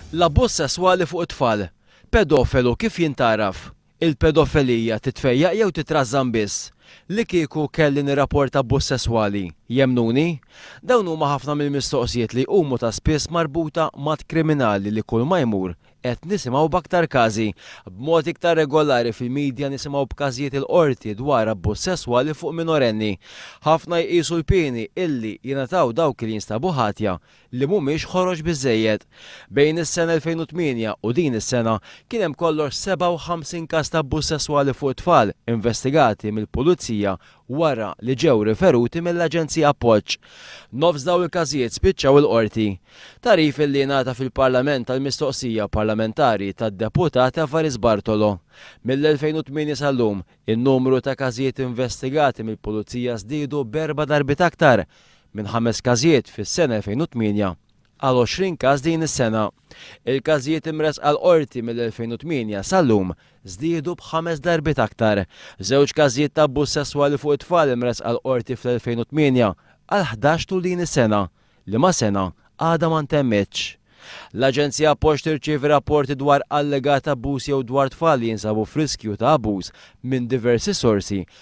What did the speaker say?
L-abbuż sesswali fuq it-tfal. Pedofelu kif jintgħaraf? Il-pedofelija titfejjaq jew titrażżan biss? Li kieku kelli nirraporta abbuż sesswali, jemmnuni? Dawn huma ħafna mill-mistoqsijiet li jqumu ta' spiss marbuta m'att kriminali li kulma jmur Qed nisimgħu b'aktar każi. B'mod iktar regolari fil-midja nisimgħu b'każijiet il-Qorti dwar abbuż sesswali fuq minorenni. Ħafna jqisu l-pieni illi jingħataw dawk li jinstabu ħatja li mhumiex ħorox biżżejjed. Bejn is-sena 2008 u din is-sena kien hemm kollox 57 każ ta' abbuż sesswali fuq tfal investigati mill-Pulizija wara li ġew riferuti mill-Aġenzija Appoġġ. Nofs dawn il-każijiet spiċċaw il-Qorti. Tagħrif li ngħata fil-Parlament għall-mistoqsija parlamentari tad-Deputat Evarist Bartolo. Mill-2008 sal-lum, in-numru ta' każijiet investigati mill-Pulizija żdiedu b'erba' darbiet aktar, minn ħames każijiet fis-sena 2008 għal 20 każ din is-sena. Il-każijiet imressqa l-Qorti mill-2008 sal-lum żdiedu b'ħames darbiet aktar. Żewġ każijiet ta' abbuż sesswali fuq it-tfal imressqa l-Qorti fl-2008 għal ħdax tul din is-sena, liema sena għadha ma ntemmitx. L-Aġenzija Appoġġ tirċievi rapporti dwar allegat abbuż jew dwar tfal li jinsabu f'riskju ta' abbuż minn diversi sorsi